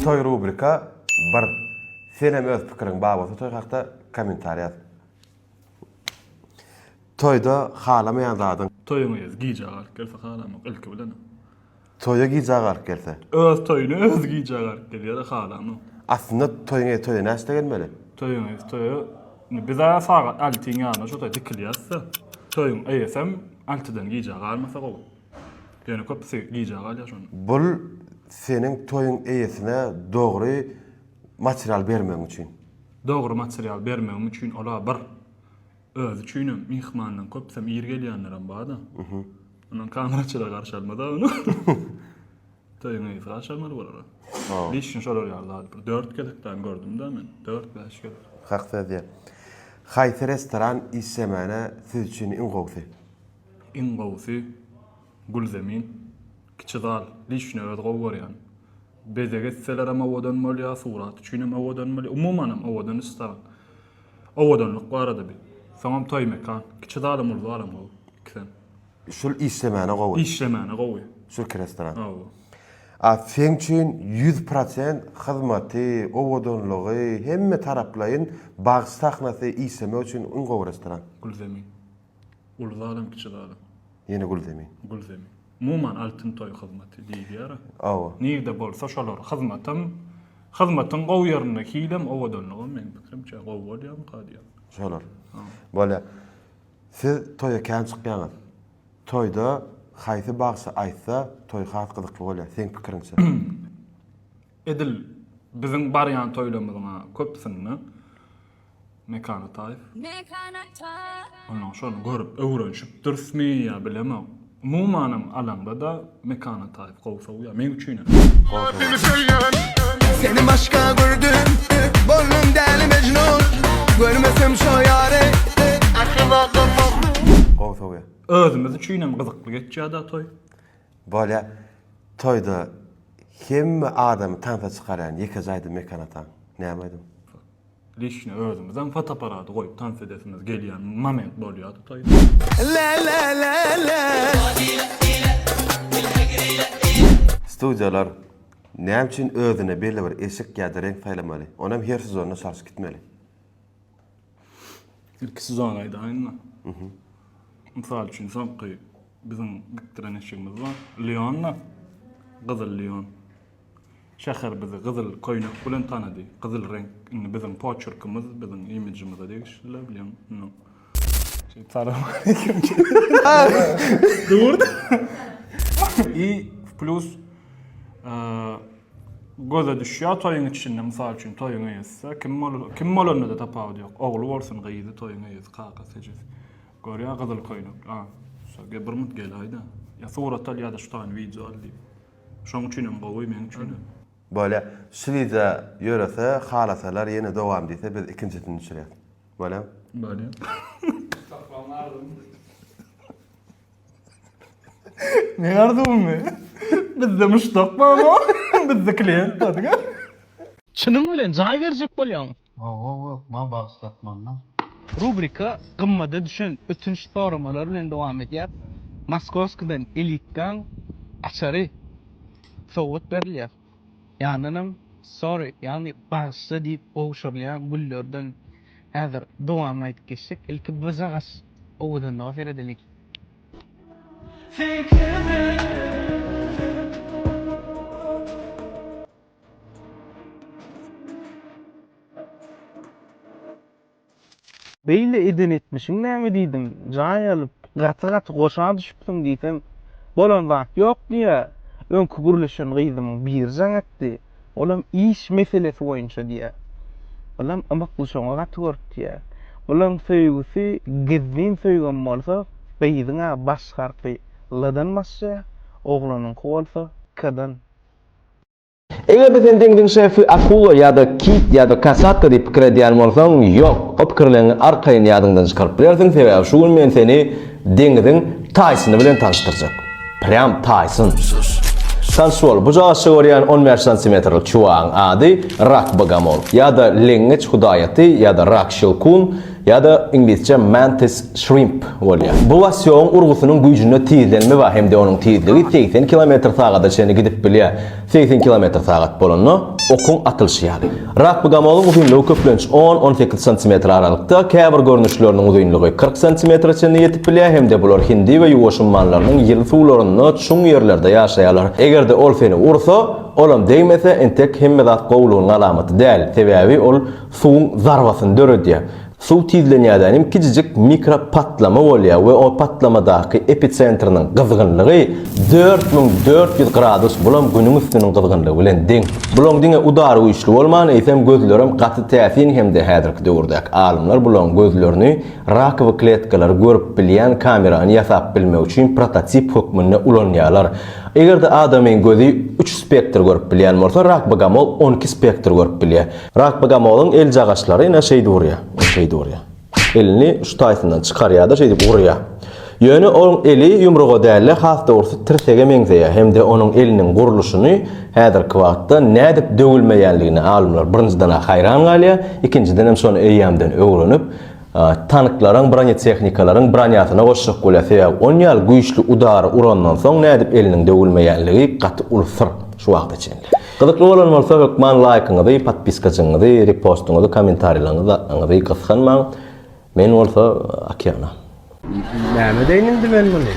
Toý rubrika bir. Senem öz pikiriň bar bolsa toý hakda komentar ýaz. Toýda halamaýan zadyň. Toýuňa ýaz gijä garyp gelse halamok ilki bilen. Toýa gijä garyp gelse. Öz toýuna özi gijä garyp gelýär halamok. Aslynda toýuň ýa toýa näçde gelmeli. Toýuň ýa toýa indi biz a sagat altyn ýaryna şo toýa dikilýäsda. Toýuň eýesem altydan gijä garmasa gowy. Ýöne köpüsi gijä galýar şonda. Bul seniň toýuň eýesine dogry material bermegiň üçin. Dogry material bermegim üçin ola bir. Özi üçinem myhmandan köpüsem ir gelýänlerem barda. Ondan kameraçylar garşy almada ony. Toýuň eýesi garşy almaly bolary. Lişni şolar ýaly zady bir dört gezek däl gördümda men. Dört bäş gezek. Hak söz diýen. Haýsy restoran işlemäne siz üçin iň gowusy? Iň gowusy Gülzemin kiçi zal liçno özi gowy görýän. Bezeg etselerem owadan bolýa, surat üçinem owadan bolýa, umumanam owadan iş salan. Owadanlyk barada bi. Soňam toý mekan. Kiçi zalam uly zalam gowy ikisem. Şul işlemäne gowy. Işlemäne gowy. Şul iki restoran. Hawa. A seň üçin ýüz prosent hyzmaty, owadanlygy, hemme taraplaýyn bagyş sahnasy işlemek üçin iň gowy restoran. Gülzemin. Uly zalam, kiçi zalam. Ýene Gülzemin. Gülzemin. Umuman Altyn toý hyzmaty diýilýär-ä. Hawa. Nirde bolsa şolar hyzmatam, hyzmatyň gowy ýerinde hilem, owadanlygam meniň pikirimçe gowy bolýamyka diýýän. Şolar. Bolýar. Siz toýa kän çykýaňyz. Toýda haýsy bagşy aýtsa toý has gyzykly bolýar seň pikiriňçe? Edil biziň barýan toýlarymyzyň-a köpüsinde Mekan Ataýew. Mekan Ataýew. Onuň şony görüp öwrenşipdirismi ýa bilemok. Umumanam alaňda-da Mekan Ataýew gowy sowýar. Meň üçinem. Seni başga gördüm Boldum däli mejnun Görmesem şo ýary Asyla durmaz Gowy sowýar. Özümiz üçinem gyzykly geçýär-dä toý. Bolýar. Toýda hemme adamy tansa çykarýan ýeke jaýda Mekan ataň. Näme aýdym? Lişni özümizem fotoaparady goýup tans edesimiz gelýän moment bolýar tutaýyn. Studiýalar näme üçin özüne belli bir eşik ýa-da reňk saýlamaly? Onam her sezonda çalşyp gitmeli. Ilki sezony aýdaýynmy? Mysal üçin soňky biziň dikdiren eşigimiz bar. Leonda, gyzyl Leon. Şäher bizi gyzyl köýnek bilen tanady. Gyzyl reňk indi biziň poçerkimiz, biziň imijimize degişli-le, bilýän, indi şeýdip Salowmaleýkim diýip dur-da. I plus göze düşýär toýuň içinde, mysal üçin, toýuň eýesi-de, kim bolup, kim bolanda-da tapawudy ýok, ogly bolsun, gyzy, toýuň eýesi, kakasy, ejesi. Görýär gyzyl köýnek, a, şo, bir mut gel-aý-da, ýa surat al, ýa-da şu taýyny wideo al diýip. Şoň üçinem gowy meň üçinem. Bolya şlidze ýörese halasalar ýene dowam diýse biz ikinjisini düşürýäs. Bolýamy? Bolýa. Tapmaň arzuwym. Meň arzuwymmy? Bizde muşdak barmy? Bizde klient bar diňe. Çynyň bilen jaý berjek bolýaň. Gowy okma bagsat manda. Rubrika gymmada düşen ötünç soramalar bilen dowam edýär. Moskowskiden elitkaň açary sowgat berilýär. Ýanynam sorry ýagny bagyşla diýip gowşurylýan güllerden häzir dowamyny aýdyp geçjek. Ilki bir zagaç owadanlyga seredeliň. Sen kimi? Beýle eden etmişiň näme diýdim, jaý alyp, gaty-gaty goşa düşüpsiň diýsem, bolan zat ýok diýýär. Öňki gürleşen gyzymyň biri jaň etdi, olam iş meselesi boýunça diýýär. Bulam ymykly şoňa gaty görüpdiýýär. Bulaň söýgüsi gizlin söýgem bolsa, gyzyň-a baş harpy L-dan başlaýar, oglanyňky bolsa K-dan. Eger-de sen deňziň şefy akula ýa-da kit ýa-da kasatka diýip pikir edýän bolsaň, ýok, o pikirleriňi arkaýyn ýadyňdan çykaryp bilersiň, sebäbi şu gün men seni deňziň Taýsony bilen tanyşdyrjak. Prýam Taýson. Tanyş bol, bujagyşça görýän on bäş santimetrlik çuwagyň ady Rak Bogomol, ýa-da Leňňeç Hudaýaty ýa-da Rak Şilkun, Ýa-da iňlisçe mantis shrimp bolýar. Bu wasýogyň urgusynyň güýjünde tizlenme bar hem-de onuň tizligi segsen kilometr sagada çenli gidip bilýär. Segsen kilometr sagat bolanda, okuň atylyşy ýaly. Rakbgamoluň uzynlygy köplenç on-on sekiz santimetr aralykda, käbir görnüşleriniň uzynlygy kyrk santimetre çenli ýetip bilýär hem-de bular Hindi we Ýuwaş ummanlarynyň ýyly suwlarynda çuň ýerlerde ýaşaýarlar. Eger-de ol seni ursa, olam degmese, entek hemme zat gowulygynyň alamaty däl, sebäbi ol suwuň zarbasyny döredýär. Suw tizlenýärden hem kiçijik mikropatlama bolýar we o patlamadaky episentriniň gyzgynlygy dört müň dört ýüz gradus, bulam Günüň üstüniň gyzgynlygy bilen deň. Bulaň diňe udary güýçli bolman, eýsem gözlerem gaty täsin hem-de häzirki döwürdäki alymlar bulaň gözlerini rakowy kletkalary görüp bilýän kamerany ýasap bilmek üçin prototip hökmünde ulanýarlar. Eger-de adamyň gözi üç spektr görüp bilýän bolsa, rak bogomol on iki spektr görüp bilýär. Rak bogomolyň eljagaçlary ine şeýdip urýar. Ine şeýdip urýar. Elini şu taýsyndan çykarýar-da şeýdip urýar. Ýöne onuň eli ýumruga däl-de has dogrusy tirsege meňzeýär hem-de onuň eliniň gurluşyny häzirki wagtda nädip döwülmeýänligine alymlar birinjiden-ä haýran galýar, ikinjidenem şony eýýämden öwrenip, tanklaryň, bronetehnikalaryň bronýasyna goşjak bolýar, sebäbi onýaly güýçli udary urandan soň nädip eliniň döwülmeýänligi gaty uly syr şu wagta çenli. Gyzykly bolan bolsa hökman laýkyňyzy, podpiskajyňyzy, repostyňyzy, komentarýlaňyzy gysganmaň, men bolsa okeana. Näme edeýin indi men muny.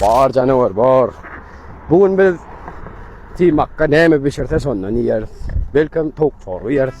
Bar janawar bar. Bugün biz timakka näme bişirse şondan ýeris. Belkem towuk çorba ýeris.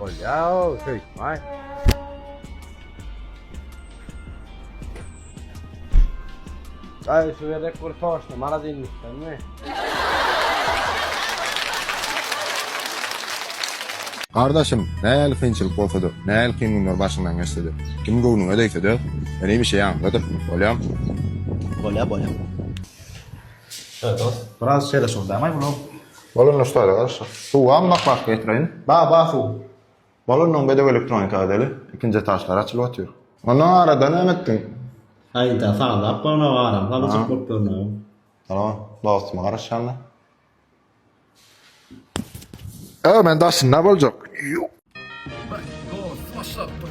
Bolýar, söýtmay. Ay şu gerek bir soşna mara dinlikden mi? Gardaşym, nähili kynçylyk bolsa-da, nähili kyn günler başyňdan geçse-de, kim göwnüňe degse-de, meni bir şey aňladyr. Bolýamy? Bolýar, bolýar. Biraz şeýle şol däl-aý bulam. Bolanda ştaýla garaşyk. Suwam bak bak getireýin. Ba ba suw. Bolandan bedek elektronika edeli. Ikinji etaçlar açylyp otyr. Ondan arada näme etdiň? Haýda sazlap goýna garam halyjyk bolup görnäýiň. Ýa dostuma garaşýanda. Öö men daşynda boljak. Ýo. Bäh dost başlapdyr.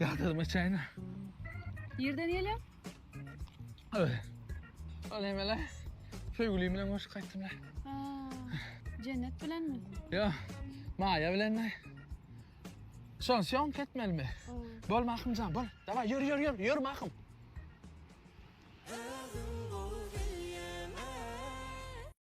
Ýadyrma çaýna. Nirden gelýär? Öy. Ol emele. Söýgülim bilen görüşüp gaýtdym la. Jennet bilenmi? Yo. Maýa bilen. Şon şon ketmelimi? Bol mahymjan, bol. Daway, ýör, ýör, ýör, ýör mahym.